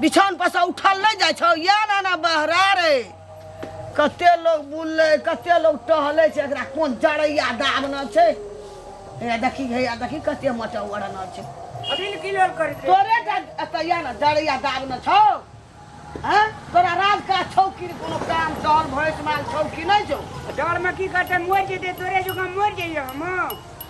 बिछान पर से उठल नहीं जाय छौ या ना ना बहरा रे कते लोग बुलले कते लोग टहले छै एकरा कोन जड़ैया दाबना छै हे देखी हे देखी कते मचा ओढ़ना छै अभी की लोल कर दे तोरे अतैया ना जड़ैया दाबना छौ हैं तोरा राज का छौ कि कोनो काम सहल भैंस माल छौ कि नहीं छौ डर में की करते मोर जेते तोरे जो का मोर जइयो हम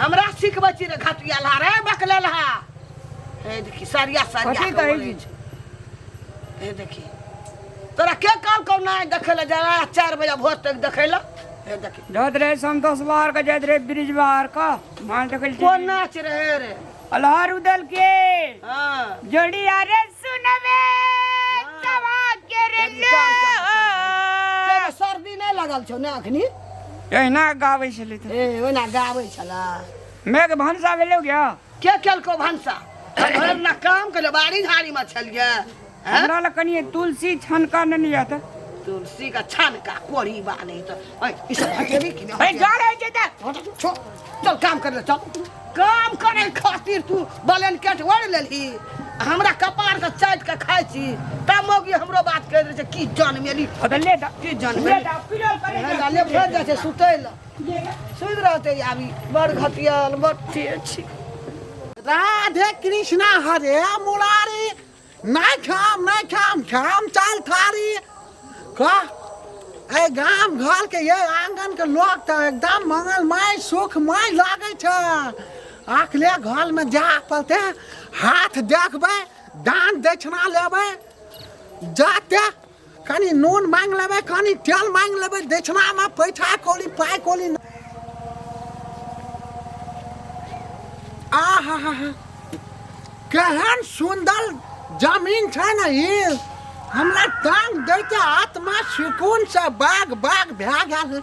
हमरा सिखबै छी रे घटिया लहा रे बकले लहा हे देखी सरिया सरिया कथी के कहै बोलै छी? छै। हे देखी तोरा के कहल कौ नहि देखै लए जरा चारि बजे भोर तक देखै लए हे देखी जात रहे संतोष बाहर का जात रहे ब्रिज बाहर का मान सकल कोन छी नाच रहे रे अलहार उदल के हाँ जोड़ी अरे सुनबे तवा के रे लो। सर्दी नहि लागल छौ ने अखनी एहिना गाबै छलै तऽ ए ओना गाबै छला मेघ भनसा भेलौ क्या के केलको भनसा भरि ना काम केले बाड़ी झाड़ी में छलिए हैं? हमरा लग कनि तुलसी छनका नेने जा तऽ तुलसी का छान का कोरी बाने तो ऐ, ई सब हटेबी कि ए, नहि जा रहै छै तऽ हट, छो। चल काम कर ले चल काम करे खातिर तू बलन केट ओढ़ लेलही आ हमरा कपार के चाट के खाइ छी ता मौगी हमरो बात कह दे छै की जान मेली अबे ले जा की जान ले मेली जा पिलो करे जा हमरा ले भेज जाइ छै सुतै ल ले जा। सुति रहते आबी बड़ घटियल बड़ तेज छी राधे कृष्णा हरे मुरारी नहि खाम नहि खाम खाम चल थारी कह ए गाम घर के ये आंगन के लोग तो एकदम मंगलमय सुखमय लागे छ अखले घर में जा पलते हाथ देखबे दान दक्षिणा लेबे जाते कनी नून मांग लेबै कनी तेल मांग लेबै दक्षिणा में पैठा कोली पाय कोली आहा हा हा केहन सुंदर जमीन छै ने ई हमरा तांग दैके आत्मा सुकून से बाग बाग भए गेल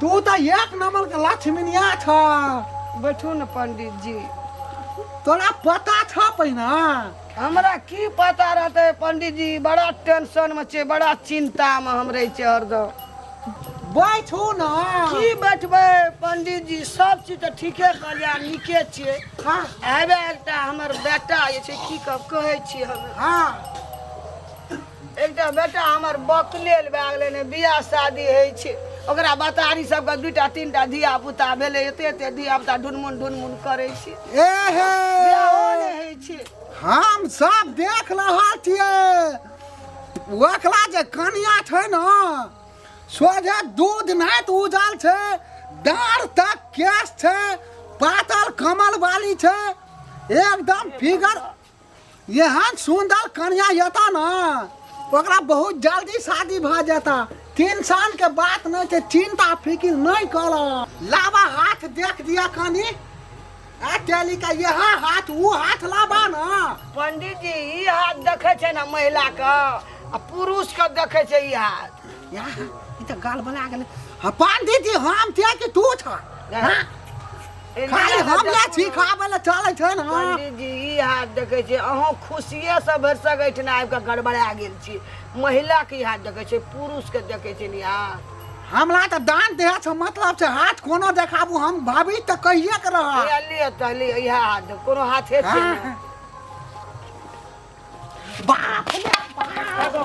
तू तऽ एक नंबर के लक्ष्मीनिया छ बैठू ने पंडित जी तोरा पता छ पहिना हमरा की पता रहते पंडित जी बड़ा टेंशन में छे बड़ा चिंता में हम रहे छे हरदम बैठू न की बैठबे पंडित जी सब चीज तो ठीके कहलिया नीके छे हाँ आबे एकटा हमर बेटा जे छे की कह कहे छी हम हाँ एकटा बेटा हमर बकलेल भए गेलै ने बियाह शादी होइ छै ओकरा बतारी सबके दूटा तीनटा धिया पुता भेलै एते एते धिया पुता ढुनमुन ढुनमुन करै छै ए हे बियाहो नहि होइ छै हम सब देख रहा छिए ओकरा जे कनिया छै ने सोझे दूध नहि तऽ उजल छै डाँड़ तक केस छै पातल कमल वाली छै एकदम फिगर एहन सुंदर कन्या यता ना ओकरा बहुत जल्दी शादी भ जाता टेंशन के बात नहीं छै चिंता फिकिर नहीं कर लावा हाथ देख दिया कनी आ टेली का यह हाथ वो हाथ लावा ना पंडित जी ई हाथ देखे छै ना महिला के आ पुरुष के देखे छै ई हाथ यहाँ ई तऽ गाल बना गेलै हँ पंडीजी हम छियै कि तू छ हाँ? खाली हम ले छी खाबै लए चलै छै ने हाँ। पंडीजी ई हाथ देखै छै अहूँ खुशिये से भरि सकै छै ने आबि कऽ गड़बड़ा गेल छी महिला के ई हाथ देखै छै पुरुष के देखै छै ने अहाँ हमरा तऽ दान देह छ मतलब छै हाथ कोनो देखाबू हम भाभी तऽ कहिए के रह लिअ लिअ तऽ लिअ इएह हाथ देख कोनो हाथे छै ने हाँ। बाप रे बाप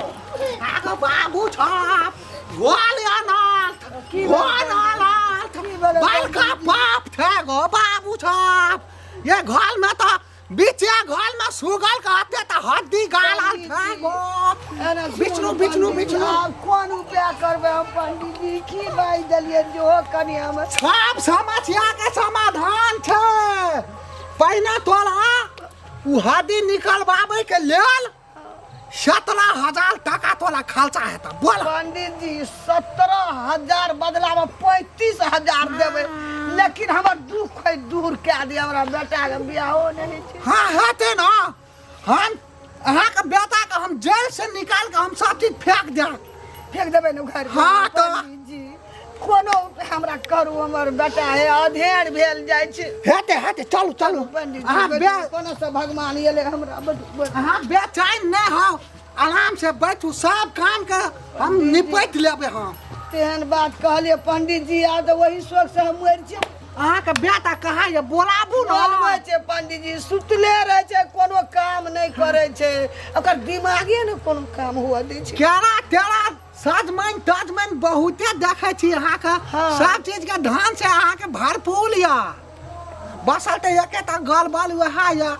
आगो बाबू छाप गोल अनाथ गोल अनाथ बड़का बाप थे गो बाबू छाप ये घर में तो बीचे घर में सुगल कहते तो हड्डी गाला थे गो बिचनू बिचनू बिचनू आब कोन उपाय करबै हम पंडित जी की बाजि देलियै जे ओ कनि हम सब समस्या के समाधान छे पहिने तोरा ओ हड्डी निकलबाबै के लेल सत्रह हजार टाका तोरा खर्चा हेतौ बोल पंडित जी सत्रह हजार बदला में पैंतीस हजार देवे लेकिन हमर दुख है दूर कए दिया हमरा बेटा के बियाहो नहीं छै हाँ हेतै ने हम अहाँके बेटाके हम जेलसँ निकालि कऽ हम सब चीज फेंक देब फेंक देबै ने घर हाँ, तऽ। पंडित जी कोनो हमरा करू हमर बेटा हे अधेर भेल जाइ छै हेते हेते चलू चलू पंडित जी, अहाँ बे बैठू, कोनो से भगवान एले हमरा बड बड- अहाँ बेचैन नहि हो आराम से बैठू सब काम के हम निपट लेबै हम तेहन बात कहलिए पंडित जी आ तऽ वही शोक से हम मरि जाएब अहाँके बेटा कहाँ ये बोलाबू बोलबै ने छै पंडित जी सुतले रहै छै कोनो काम नहि करै छै ओकर दिमागे ने कोनो काम हुअ दै छै केरा तेरा सजमनि तजमनि बहुते देखै छी अहाँके हाँ। सब चीजके धान से अहाँके भरपूर यऽ बसल तऽ एकेटा गलबल वएह यऽ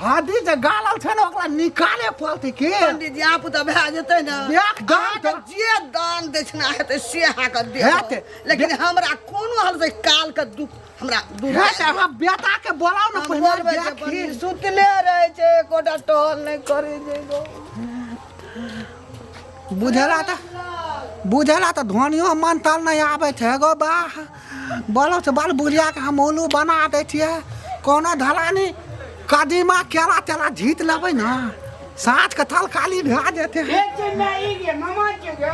हदी जे गालल छै ने ओकरा निकाले पड़तै के पंडित जी आप तऽ भए जेतै ने देख दान अहाँके तऽ- जे दान दक्षिणा हेतै से अहाँके हेतै। देबै लेकिन हमरा कोनो हाल से कालके दुख हमरा दूर हे तऽ अहाँ बेटा के बोलाउ ने हम पहिने बोलबै जे देखी। बनी सुतले रहै छै एकोटा टहल नहि करै छै गौ। बुझला तऽ बुझला तऽ धनियो मन तल नहि आबै छै गो बा बोलो से बाल बुढ़िया के हम उल्लू बना दै छियै कोनो धरानी कदीमा केरा तेरा झीत लेबै ने साँझ के थल काली भए जेतै एक चीज में ई गे मामा के गे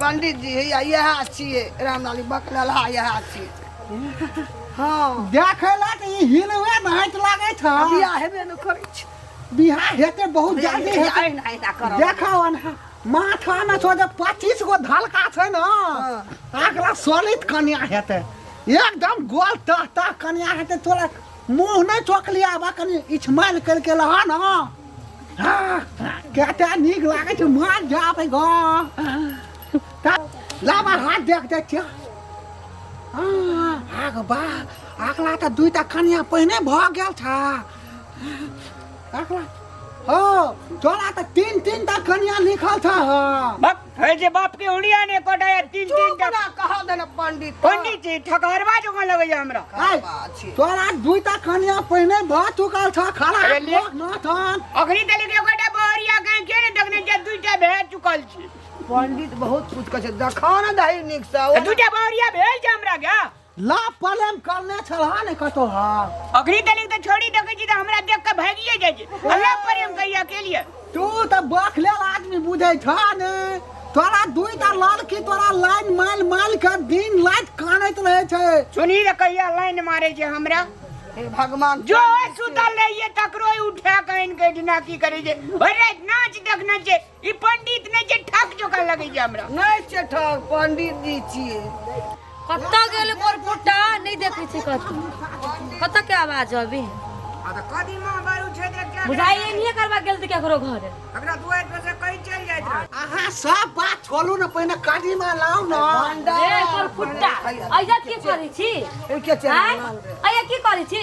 पंडित जी हैया इएह छियै रामलाली बकलहा इएह छियै हँ देखै लए तऽ ई हिलवे नाच लागै आ छौ बियाह हेबे ने करै छै बिहार हेतै बहुत जल्दी हेतै अहिना अहिना करब देखो अनहा माथा में छो जे पच्चीस गो धलका छै ने अगला सोलित कन्या हेतै एकदम गोल तह तह कन्या हेतै तोरा मुँह नहि ठोकली आब कनि इछमाल करि के लहा न कते नीक लागै छै मार जाबै ग लाबा हाथ देख दै छियै आग बा अगला तऽ दुइटा कनिया पहिने भऽ गेल छ अगला ओ तोरा तऽ तीन तीन टा कनिया लिखल छ है जे बाप के उड़िया ने कोटाया तीन तीन चुप टा ना कहा देना पंडित पंडित जी ठकरवा जो लगैया हमरा आय, तोरा दुईटा कनिया पहिने भ चुकल छ खड़ा अरे ले। माथन अखनी तले के कोटा बोरिया कहीं के ने देखने जे दुईटा भे चुकल छी पंडित बहुत कुछ कहे देखा ना दही निक से दू टा बावरिया भेल छै हमरा के लाभ पलेम करने छलहा ने कतो हा अखनी तनी तो छोड़ी देखे छी त हमरा देख के भागिए जाय छी अल्लाह प्रेम कहिए अकेलिए तू त बखलेल आदमी बुझै छ ने तोरा दुई ता लाल की तोरा लाइन माल माल के दिन रात कानैत रहे छै सुनी रे कहिया लाइन मारे जे हमरा हे भगवान जो सुतल रहिए तकरो उठा के आनि के ढिना की करे जे भरि राति नाच देखने छै ई पंडित नहि छै ठक जोका लगै छै हमरा नहि छै ठक पंडित जी छियै कतऽ गेल ओकर पोटा नहि देखै छै कतऽ कतऽ के आवाज अभी आ तऽ कदीमा बारू छै तऽ एकटा बुझाइ एनिए करबा गेल तऽ केकरो घरे एकरा दुआरि पर से कहीं चलि जाइत रहे अहाँ सब बात छोड़ू ने पहिने कादीमा लाउ ने ए ओकर फुट्टा ऐजा की करै छी ओ के छै आँय? ऐजा की करै छी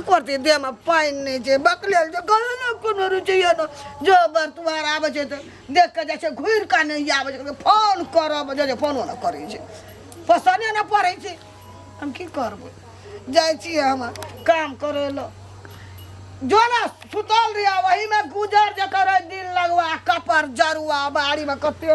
करते देहमे पानि नहि छै बकलेल छै कहे ने कोनो रुचैए ने जो बर्तवार आबै छै तऽ देख कऽ जाइ छै घुरि कऽ नहि आबै छै फोन करब जाइ छै फोनो नहि करै छै पसन्द नहि पड़ै छै हम की करबै जाइ छियै हम काम करै लए जो ने सुतल रहिया वहीमे गुजर जकर दिन लगवा कपर जरुआ बाड़ीमे कते